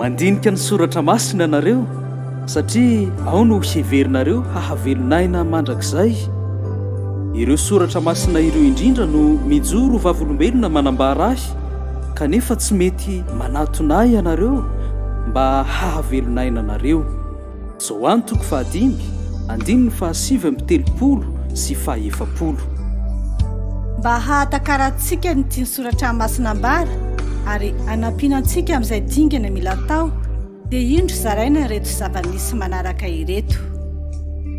Mandinika ny soratra masina ianareo satria ao no heverinareo hahavelon'aina mandrakizay. Ireo soratra masina ireo indrindra no mijoro vavolombelona manambara ahy kanefa tsy mety manatona ahy ianareo mba hahavelon'aina anareo. Joany toko fahadimy, andininy fahasivy amby telopolo sy fahaefapolo. Mba hahatakarantsika ny tian'ny Soratra Masina ambara ary hanampiana antsika amin'izay dingana mila atao, dia indro zaraina ireto zava-misy manaraka ireto.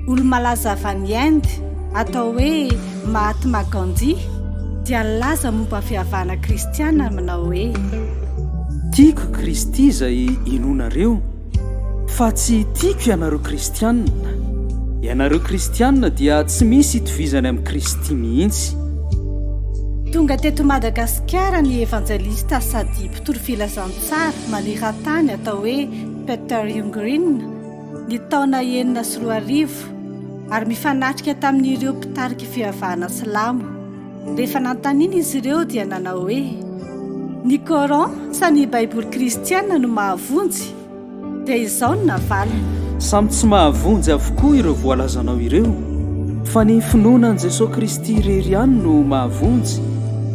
Olo-malaza avy any Inde, atao hoe Mahatma Gandhi, dia nilaza momba ny fivavahana kristiana manao hoe. Tiako i Kristy izay inoanareo. Fa tsy tiako ianareo kristianina. Ianareo kristianina dia tsy misy itovizany amin'i Kristy mihitsy. Tonga teto Madagasikara ny evanjelista sady mpitory filazantsara maneran-tany atao hoe Peter Ljunggren ny taona enina sy roa arivo ary mifanatrika tamin'ireo mpitarik'i fivavahana silamo. Rehefa nanontaniana izy ireo dia nanao hoe, Ny Coran sa ny Baiboly kristiana no mahavonjy? Dia izao no navaliny. Samy tsy mahavonjy avokoa ireo voalazanao ireo, fa ny finoana an'i Jesoa Kristy irery ihany no mahavonjy,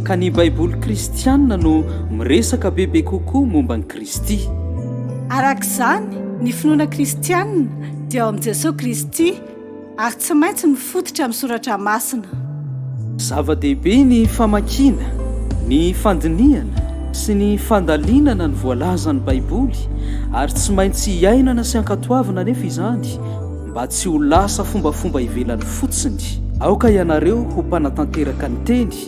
ka ny Baiboly kristiana no miresaka bebe kokoa momba an'i Kristy. Araka izany, ny finoana kristiana dia ao amin'i Jesoa Kristy. Ary tsy maintsy mifototra amin'ny soratra masina. Zava-dehibe ny famakiana, ny fandinihana sy ny fandalinana ny voalazan'ny Baiboly, ary tsy maintsy iainana sy ankatoavina anefa izany mba tsy ho lasa fombafomba ivelany fotsiny. Aoka ianareo ho mpanatanteraka ny Teny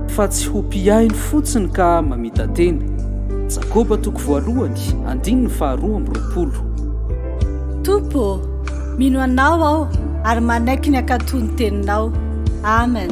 Fa tsy ho mpihaino fotsiny ka mamita-tena. Jakoba toko voalohany, andininy faharoa amby roapolo. Tompo ô, mino Anao aho ary manaiky ny hankatò ny Teninao. Amen.